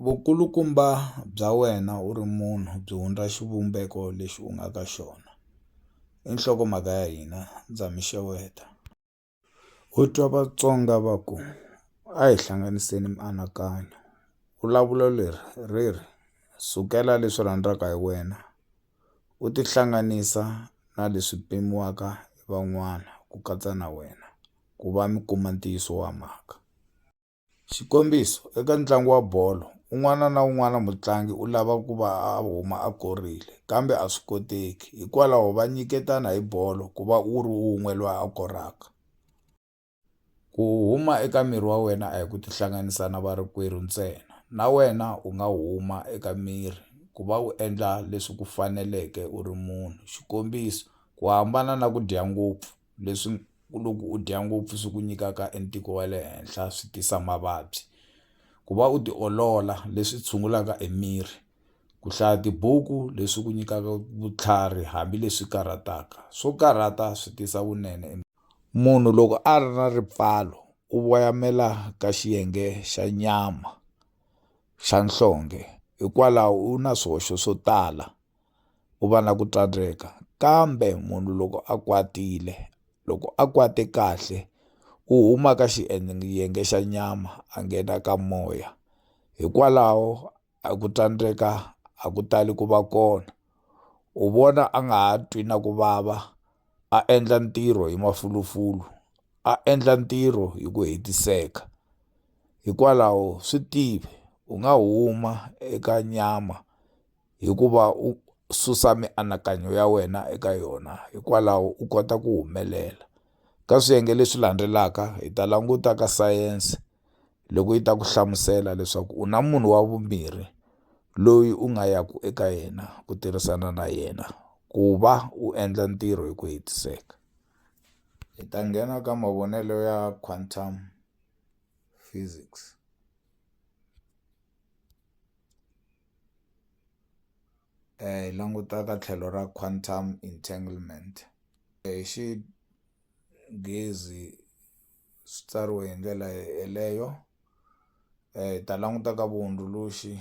Vukulukumba bya wena u ri munhu byi hundza xivumbeko lexi u nga ka xona. I nhlokomhaka ya hina, ndza mi xeweta. Ho twa Vatsonga va ku, a hi hlanganiseni mianakanyo. Vulavulo leri ri ri, sukela leswi rhandzaka hi wena u tihlanganisa na leswi pimiwaka hi van'wana ku katsa na wena, ku va mi kuma ntiyiso wa mhaka. Xikombiso, eka ntlangu wa bolo, un'wana na un'wana mutlangi u lava ku va a huma a korile, kambe a swi koteki. Hikwalaho va nyiketana hi bolo ku va u ri un'we loyi a koraka. Ku huma eka miri wa wena a hi ku tihlanganisa na varikwerhu ntsena. Na wena u nga huma eka miri ku va u endla leswi ku faneleke u ri munhu. Xikombiso, ku hambana na ku dya ngopfu, leswi ku loko u dya ngopfu swi ku nyikaka e ntiko wa le henhla swi tisa mavabyi ku va u tiolola leswi tshungulaka e miri ku hlaya tibuku leswi ku nyikaka vutlhari hambileswi karhataka swo karhata swi tisa vunene munhu loko a ri na ripfalo u voyamela ka xiyenge xa nyama xa nhlonge hikwalaho u na swihoxo swo tala u va na ku tsandzeka kambe munhu loko a kwatile loko a kwate kahle u huma ka xa nyama a nghena ka moya hikwalaho a ku tsandzeka a ku tali ku va kona u vona a nga ha twi na ku vava a endla ntirho hi mafulufulu a endla ntirho hi ku hetiseka hikwalaho swi tive u nga huma eka nyama. hikuva u susa mianakanyo ya wena eka yona hikwalaho u kota ku humelela ka swiyenge leswi landzelaka hi ta languta ka sayense loko yi ta ku hlamusela leswaku u na munhu wa vumbirhi loyi u nga yaku eka yena ku tirhisana na yena ku va u endla ntirho hi ku hetiseka hi ta nghena ka mavonelo ya quantum physics. hi languta ka tlhelo ra quantum entanglement hi xinghezi swi tsariwe hi ndlela yeleyo hi ta languta ka vuhundzuluxi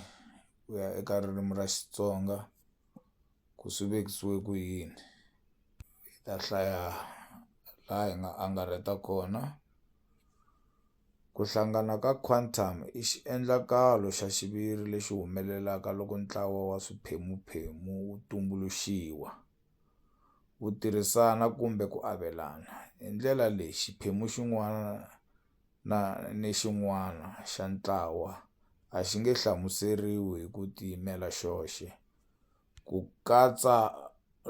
ku ya eka ririmi ra Xitsonga ku swi vekisiwe ku yini hi ta hlaya laha hi nga angarheta kona. Ku hlangana ka quantum i xiendlakalo xa xiviri lexi humelelaka loko ntlawa wa swiphemu-phemu wu tumbuluxiwa, wu tirhisana kumbe ku avelana. Hi ndlela leyi, xiphemu xin'wana na ni xin'wana xa ntlawa a xi nge hlamuseriwi hi ku tiyimela xoxe. ku katsa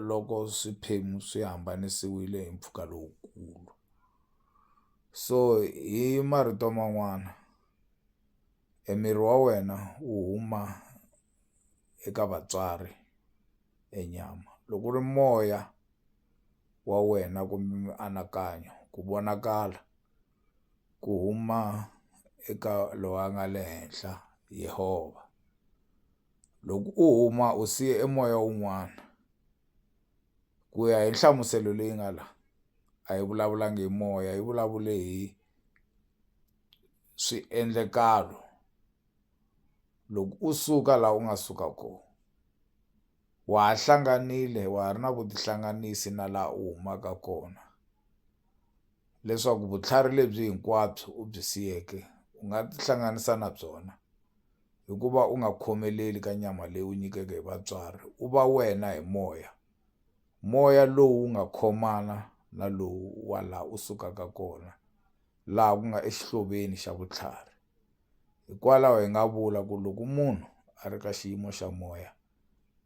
loko swiphemu swi hambanisiwile hi mpfhuka lowukulu. So hi marito man'wana e miri wa wena wu huma eka vatswari e nyama loko ku ri moya wa wena kumbe mianakanyo ku vonakala ku huma eka loyi a nga le henhla Yehovha. loko u huma u siye e moya wun'wana ku ya hi nhlamuselo leyi nga la a yi vulavulangi hi moya yi vulavule hi swiendlekalo loko u suka la u nga suka ko wa ha hlanganile wa ha ri na vutihlanganisi na la u humaka kona leswaku vutlhari lebyi hinkwabyo u byi siyeke u nga tihlanganisa na byona. hi ku va u nga khomeleli ka nyama leyi u nyikeke hi vatswari u va wena hi moya moya lowu nga khomana na lowu wa laha u sukaka kona laha ku nga exihloveni xa vutlhari hikwalaho hi nga vula ku loko munhu a ri ka xiyimo xa moya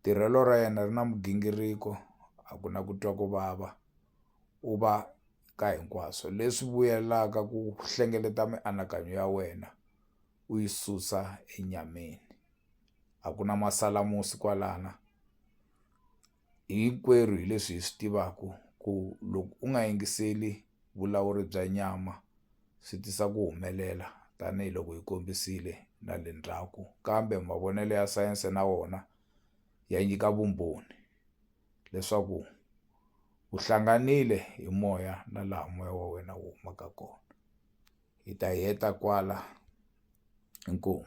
tirhelo ra yena ri na migingiriko a ku na ku twa ku vava u va ka hinkwaswo leswi vuyelaka ku hlengeleta mianakanyo ya wena. u yi susa enyameni a ku na masalamusi kwalana hinkwerhu hi leswi hi swi tivaku ku loko u nga yingiseli vulawuri bya nyama swi tisa ku humelela tanihiloko hi kombisile na le ndzhaku kambe mavonelo ya sayense na wona ya nyika vumbhoni. leswaku u hlanganile hi moya na laha moya wa wena wu humaka kona hi ta heta kwala inkomu.